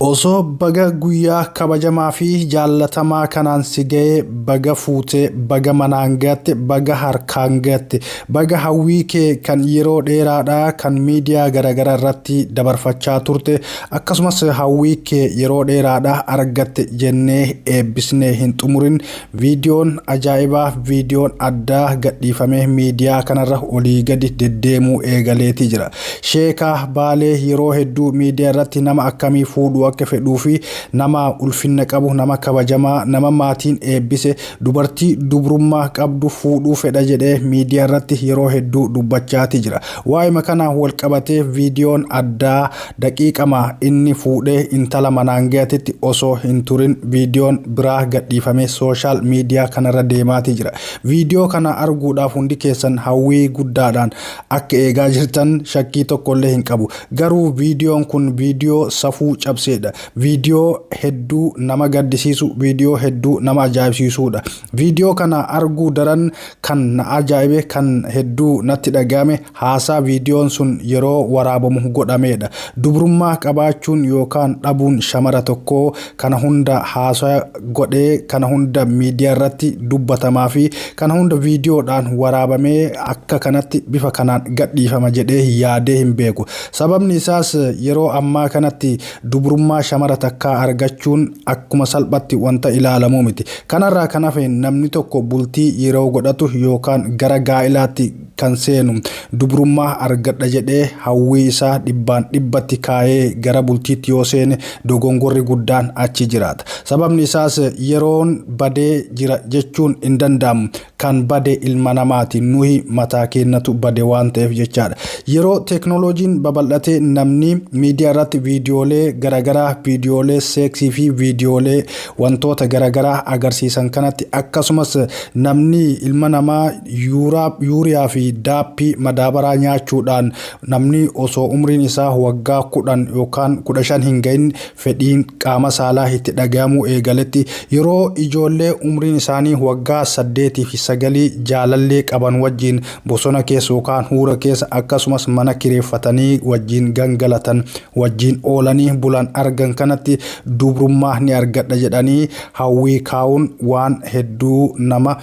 Osoo baga guyyaa kabajamaa fi jaallatamaa kanaan si ga'ee baga fuute baga manaan ga'atte baga harkaan ga'atte baga hawwii kee kan yeroo dheeraadhaa kan miidiyaa garagara irratti dabarfachaa turte akkasumas hawwii kee yeroo dheeraadhaa argatte jennee eebbisnee hin xumurin Viidiyoon ajaa'ibaa, viidiyoon addaa gadhiifamee miidiyaa kanarra olii gadi deddeemuu eegaleetii jira. Sheeka Baalee yeroo hedduu miidiyaa irratti nama akkamii fuudhuu akka fedhuu fi nama ulfinna qabu, nama kabajamaa, nama maatiin eebbise, dubartii dubrummaa qabdu fuudhuu fedha jedhee miidiyaa irratti yeroo hedduu dubbachaatii jira. Waa'ima kanaan wal qabatee viidiyoon addaa Daqiiqama inni fuudhee intala manaan gayatitti osoo hin turin viidiyoon biraa gadhiifamee sooshaal miidiyaa kanarra deemaatii jira. Viidiyoo kana arguudhaaf hundi keessan hawwii guddaadhaan akka eegaa jirtan shakkii tokkollee hin qabu. Garuu viidiyoon kun viidiyoo safuu cabseedha. Viidiyoo hedduu nama gaddisiisu, viidiyoo hedduu nama ajaa'ibsiisuudha. Viidiyoo kana arguu daran kan na ajaa'ibe, kan hedduu natti dhaga'ame, Haasaa viidiyoon sun yeroo waraabamu godhameedha. Dubrummaa qabaachuun yookaan dhabuun shamara tokkoo kana hunda haasaya godhee kana hunda miidiyaarratti dubbatamaafi kana hunda viidiyoodhaan waraabamee akka kanatti bifa kanaan gadhiifama jedhee yaadee hin beeku. Sababni isaas yeroo ammaa kanatti dubrummaa shamara takkaa argachuun akkuma salphatti wanta ilaalamuu miti. Kanarraa kan hafe namni tokko bultii yeroo godhatu yookaan gara gaa'ilaatti kan seenu. Dubrummaa argadha jedhee hawwii isaa dhibbaan dhibbatti kaayee gara bultiitti yoo seene dogongorri guddaan achi jiraata. Sababni isaas yeroon badee jira jechuun hin danda'amu. Kan bade ilma namaati. Nuyi mataa keennatu bade waan ta'eef jechaadha. Yeroo teeknooloojiin babal'atee namni miidiyaa irratti viidiyoolee garagaraa, viidiyoolee seeksii fi viidiyoolee wantoota garagaraa agarsiisan kanatti akkasumas namni ilma namaa yuuriyaa fi daappii madaabaraa nyaachuudhaan namni osoo umriin isaa waggaa kudhan yookaan kudha shan hin ga'in fedhiin qaama saalaa itti dhaga'amuu eegaletti yeroo ijoollee umriin isaanii waggaa saddeetii fi sagalii jaalallee qaban wajjiin bosona keessa yookaan huura keessa akkasumas mana kireeffatanii wajjiin gangalatan wajjiin oolanii bulan argan kanatti dubrummaa ni argadha jedhanii hawwii kaa'uun waan hedduu nama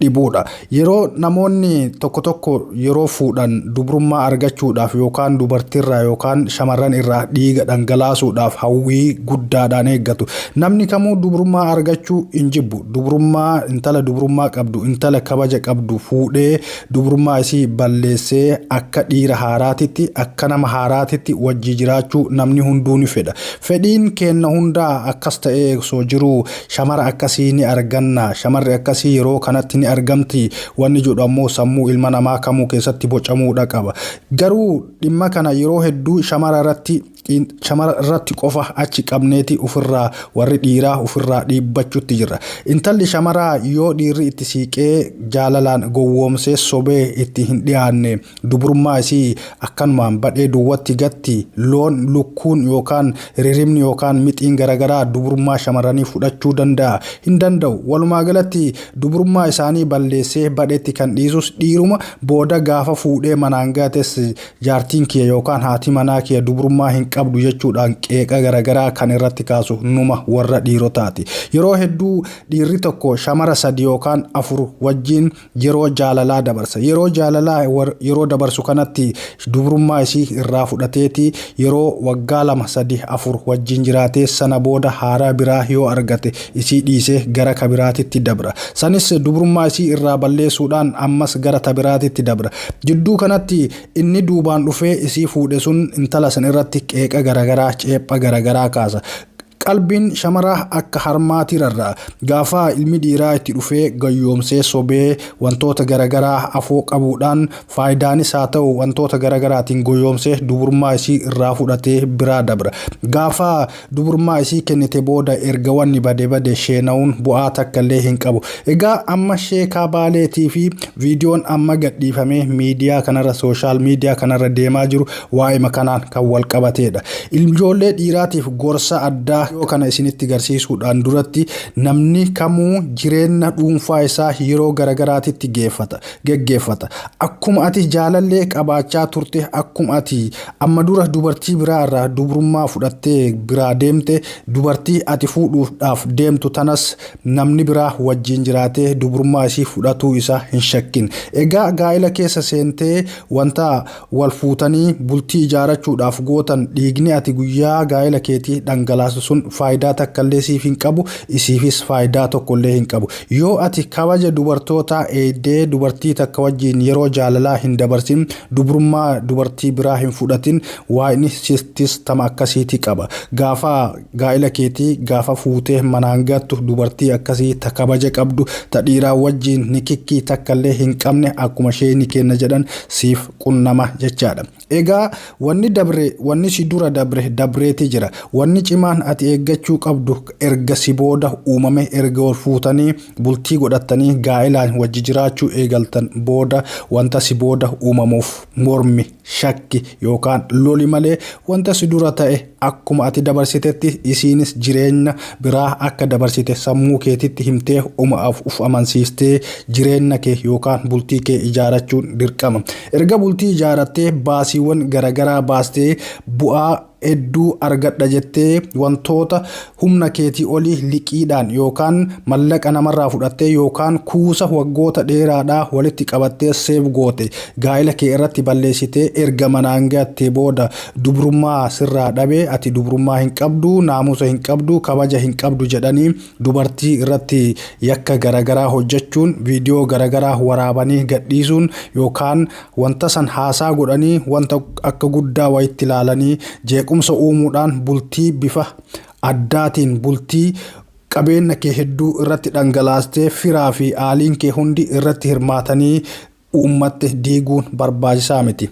dhibuudha. Yeroo namoonni tokko tokko yeroo fuudhan dubrummaa argachuudhaaf yookaan dubartiirraa yookaan shamarran irraa dhiiga dhangalaasuudhaaf hawwii guddaadhaan eeggatu. Namni kamuu dubrummaa argachuu hin jibbu. Dubrummaa intala dubrummaa qabdu intala kabaja qabdu fuudhee dubrummaa isii balleessee akka dhiira haaraatitti akka nama haaraatitti wajjii jiraachuu namni hunduu ni fedha. Fedhiin keenna hundaa akkas ta'ee osoo jiruu Shamara akkasii ni arganna. Shamarri akkasii yeroo kanatti ni argamti. Wanni jedhu ammoo sammuu ilma namaa kamuu keessatti bocamuudha qaba. Garuu dhimma kana yeroo hedduu shamara irratti shamara irratti qofa achi qabneeti ofirraa warri dhiiraa ofirraa dhiibbachutti jirra. Intalli shamaraa yoo dhiirri itti siiqee jaalalaan gowwoomsee sobee itti hin dhiyaanne Dubrummaa isii akkanumaan badhee duwwatti gatti, loon, lukkuun yookaan riribni yookaan mixiin garagaraa dubrummaa shamarranii fudhachuu danda'a? Hin danda'u. Walumaa galatti dubrummaa isaanii balleessee badhetti kan dhiisus dhiiruma, booda gaafa fuudhee manaan gates jaartiin kiyya yookaan haati manaa kiyya dubrummaa hin qabdu jechuudhaan qeeqa garagaraa kan irratti kaasu numa warra dhiirotaati. Yeroo hedduu dhiirri tokko shamara sadi yookaan afur wajjiin yeroo jaalalaa dabarsa. Yeroo jaalalaa yeroo dabarsu kanatti dubrummaa isii irraa fudhateeti yeroo waggaa lama sadi afur wajjin jiraatee sana booda haaraa biraa yoo argate isii dhiisee gara ka biraatitti dabra. Sanis dubrummaa isii irraa balleessuudhaan ammas gara ta biraatitti dabra. Jidduu kanatti inni duubaan dhufee isii fuudhe sun intala san irratti qeeqa garagaraa, ceepha garagaraa kaasa. Qalbiin shamaraa akka harmaati rarra'a. Gaafaa ilmi dhiiraa itti dhufee gayyoomsee sobee wantoota garagaraa afoo qabuudhaan faayidaanis haa ta'u wantoota garagaraatiin goyoomsee duburmaa isii irraa fudhatee biraa dabra. Gaafaa duburmaa isii kennite booda erga wanni bade bade sheenawuun bu'aa takka illee hin qabu. Egaa amma sheekaa baaleetii fi viidiyoon amma gadhiifamee miidiyaa kanarra social media kanarra deemaa jiru Waa'ima kanaan kan walqabateedha. Ilmjoollee dhiiraatiif gorsa addaa yoo kana isinitti garsiisuudhaan duratti namni kamuu jireenna dhuunfaa isaa yeroo garagaraatitti geeffata, geggeeffata. Akkuma ati jaalallee qabaachaa turte, akkuma ati amma dura dubartii biraa irraa dubrummaa fudhattee biraa deemte, dubartii ati fuudhuuf dhaaf deemtu tanas namni biraa wajjiin jiraatee dubrummaa isii fudhatuu isaa hin shakkin. Egaa gaa'ila keessa seentee wanta Wal fuutanii bultii ijaarachuudhaaf gootan dhiigni ati guyyaa gaa'ela keetii dhangalaastu sun faayidaa takkallee siif hin qabu, isiifis faayidaa tokkollee hin qabu. Yoo ati kabaja dubartootaa eegdee dubartii takka wajjiin yeroo jaalalaa hin dabarsin, dubrummaa dubartii biraa hin fudhatin, Waaqni sittis tama akkasiiti qaba. Gaafa. Gaa'ila keetii gaafa fuutee manaan gattu dubartii akkasii ta kabaja qabdu, ta dhiiraa wajjiin nikikkii takkallee hin qabne akkuma sheeyni keenna jedhan siif qunnama jechaadha. Egaa wanni dabre, wanni si dura dabre dabreeti jira. Wanni cimaan ati eeggachuu qabdu erga si booda uumame, erga wal fuutanii bultii godhattanii gaa'ilaan wajji jiraachuu eegaltan booda wanta si booda uumamuuf mormi. Shakki yookaan loli malee wanta si dura ta'e akkuma ati dabarsitetti isiinis jireenya biraa akka dabarsite sammuu keetitti himtee uma of amansiistee jireenya kee yookaan bultii kee ijaarachuun dirqama. Erga bultii ijaarattee baasiiwwan garagaraa baastee bu'aa hedduu argadha jettee wantoota humna keetii oli liqiidhaan yookaan mallaqa namarraa fudhattee yookaan kuusa waggoota dheeraadhaa walitti qabattee seef goote gaa'ila kee irratti balleessitee erga manaan gattee booda dubrummaa sirraa dhabe ati dubrummaa hin qabdu naamusa hin qabdu kabaja hin qabdu jedhanii dubartii irratti yakka garagaraa hojjechuun viidiyoo garagaraa waraabanii gadhiisuun yookaan Wanta san haasaa godhanii wanta akka guddaa wayitti ilaalanii jeequmsa uumuudhaan bultii bifa addaatiin bultii qabeenna kee hedduu irratti dhangalaastee firaa fi aaliin kee hundi irratti hirmaatanii uummatte diiguun barbaachisaa miti.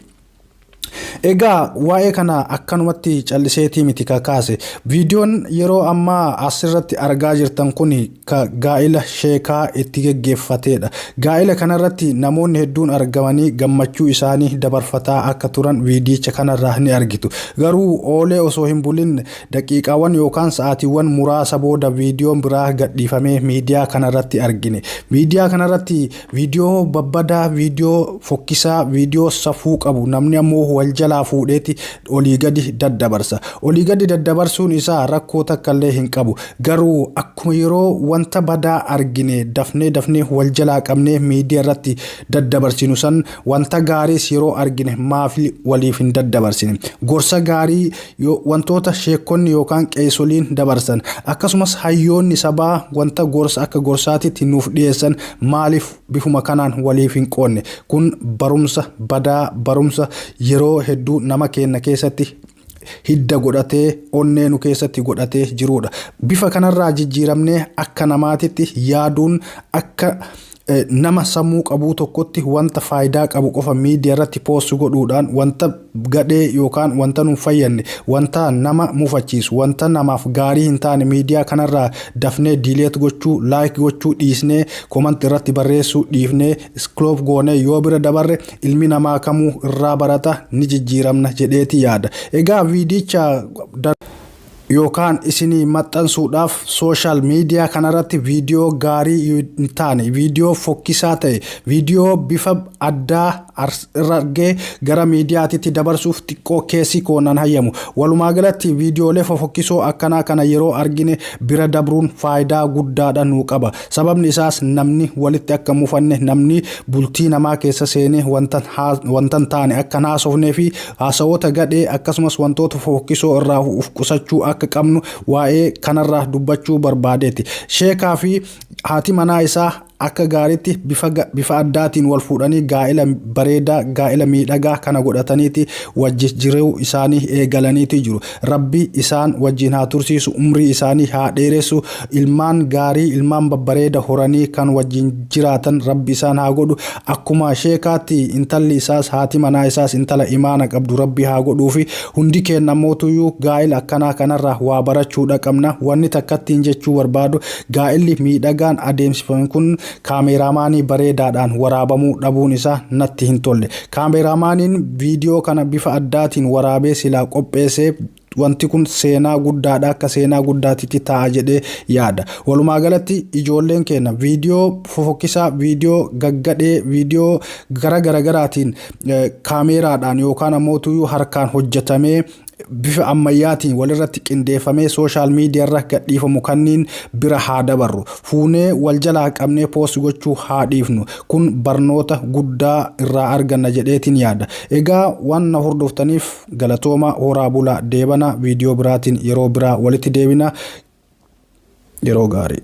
Egaa waa'ee kana akkanumatti calliseetii miti ka kaase. Viidiyoon yeroo ammaa as irratti argaa jirtan kuni ka gaa'ila sheekaa itti geggeeffateedha. Gaa'ila kanarratti namoonni hedduun argamanii gammachuu isaanii dabarfataa akka turan viidiyicha kanarraa ni argitu. Garuu oolee osoo hin bulin daqiiqaawwan yookaan sa'aatiiwwan muraasa booda viidiyoon biraa gadhiifamee miidiyaa kanarratti argine. Miidiyaa kanarratti Viidiyoo babbadaa, viidiyoo fokkisaa, viidiyoo safuu qabu namni ammoo wal jalaa fuudheeti olii gadi daddabarsa. Olii gadi daddabarsuun isaa rakkoo takkallee hin qabu. Garuu akkuma yeroo wanta badaa argine dafnee dafnee wal jalaa qabnee miidiyaa irratti daddabarsinu san wanta gaariis yeroo argine maafi waliif hin daddabarsine? Gorsa gaarii Yoo wantoota sheekkonni yookaan qeeysoliin dabarsan, akkasumas hayyoonni sabaa wanta gorsa akka gorsaatitti nuuf dhiyeessan maaliif bifuma kanaan waliif hin qoodne? Kun barumsa badaa, barumsa yeroo hedduu nama keenna keessatti hidda godhatee, onnee nu keessatti godhatee jiruudha. Bifa kanarraa jijjiiramnee akka namaatitti yaaduun akka Nama sammuu qabuu tokkotti wanta faayidaa qabu qofa miidiyaa irratti poost godhuudhaan wanta gadhee yookaan wanta nun fayyadne wanta nama mufachiisu wanta namaaf gaarii hin taane miidiyaa kanarraa dafnee diileet gochuu laayik gochuu dhiisnee komanti irratti barreessuu dhiifnee iskiloof goonee yoo bira dabarre ilmi namaa kamuu irraa barata ni jijjiiramna jedheeti yaada. Egaa viidicha yookaan isinii maxxansuudhaaf sooshaal miidiyaa kanarratti viidiyoo gaarii hin taane, viidiyoo fokkisaa ta'e, viidiyoo bifa addaa irra argee gara miidiyaatitti dabarsuuf xiqqoo keessi koo nan hayyamu. Walumaa galatti viidiyoolee fofokkisoo akkanaa kana yeroo argine bira dabruun faayidaa guddaadha nuu qaba. Sababni isaas namni walitti akka hin mufanne, namni bultii namaa keessa seenee wanta hin taane akka hin haasofnee fi Haasawoota gadhee akkasumas wantoota fofokkisoo irraa uf qusachuu akka qabnu waa'ee kanarraa dubbachuu barbaadeeti. Sheekaa fi haati manaa isaa akka gaariitti bifa, bifa addaatiin wal fuudhanii gaa'ila bareedaa, gaa'ila miidhagaa kana godhataniiti wajji jiruu isaanii eegalaniiti jiru. Rabbi isaan wajjiin haa tursiisu umrii isaanii haa dheeressu ilmaan gaarii ilmaan babbareeda horanii kan wajjiin jiraatan rabbi isaan haa godhu akkuma sheekaatti intalli isaas haati manaa isaas intala imaana qabdu rabbi haa godhuufi hundi keenna mootuyyuu gaa'ila akkanaa kanarraa waa barachuudha qabna wanni takkattiin jechuu barbaadu gaa'illi miidhagaan adeemsifame kun Kaameeraamaanii bareedaadhaan waraabamuu dhabuun isaa natti hin tolle. Kaameeraamaaniin viidiyoo kana bifa addaatiin waraabee silaa qopheessee wanti kun seenaa guddaadha akka seenaa guddaatitti taa'a jedhee yaada. Walumaa galatti ijoolleen keenya viidiyoo fofokkisaa, viidiyoo gaggadhee, viidiyoo gara garagaraatiin kaameeraadhaan yookaan ammoo tuyuu harkaan hojjetamee bifa ammayyaatiin walirratti qindeeffamee sooshaal miidiyaarra gadhiifamu kanniin bira haa dabarru. Fuunee wal jalaa qabnee poost gochuu haa dhiifnu. Kun barnoota guddaa irraa arganna jedheetiin yaada. Egaa waan na hordoftaniif galatooma horaa bula deebana viidiyoo biraatiin yeroo biraa walitti deebina yeroo gaarii.